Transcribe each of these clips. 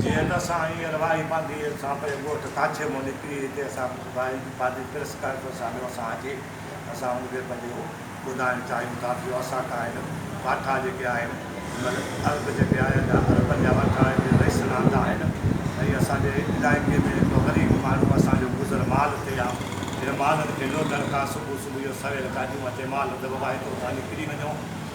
جي هن اسان ۽ اروائي پانڌي سان پري ڳوٺ ڪاڇي مون نڪري هتي اسان کي ٻڌايائين ته پانڌي پرس ڪرڻ جو سانحو اسان اچي اسان ان کي پنهنجو ٻڌائڻ چاهيون ٿا ٿيو اسان کان هن واٺا جيڪي آهن مطلب عرب جيڪي آهن جا عربن جا واٺا آهن جي رئيس رهندا آهن ۽ اسان جي علائقي ۾ هڪ غريب ماڻهو اسان جو گذر مال تي آهي هن مالن کي لوٽڻ کان صبح صبح جو سويل گاڏيون اچي مال دٻائي ته اتان نڪري وڃو.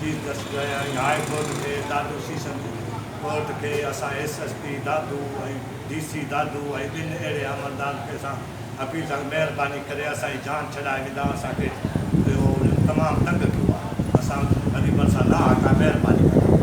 چيف جسٽس ۽ هاء ڪورٽ کي دادو سيشن جي ڪورٽ کي اسان S S P Dadu ۽ D C Dadu ۽ ٻن اهڙي عملدارن کي اسان اپيل ٿا ڪيون مهرباني ڪري اسان جي جان ڇڏائي ودا اسان کي اهو تمام تنگ ڪيو آهي اسان وري ڀرسان نه آ ڪا مهرباني ڪندو.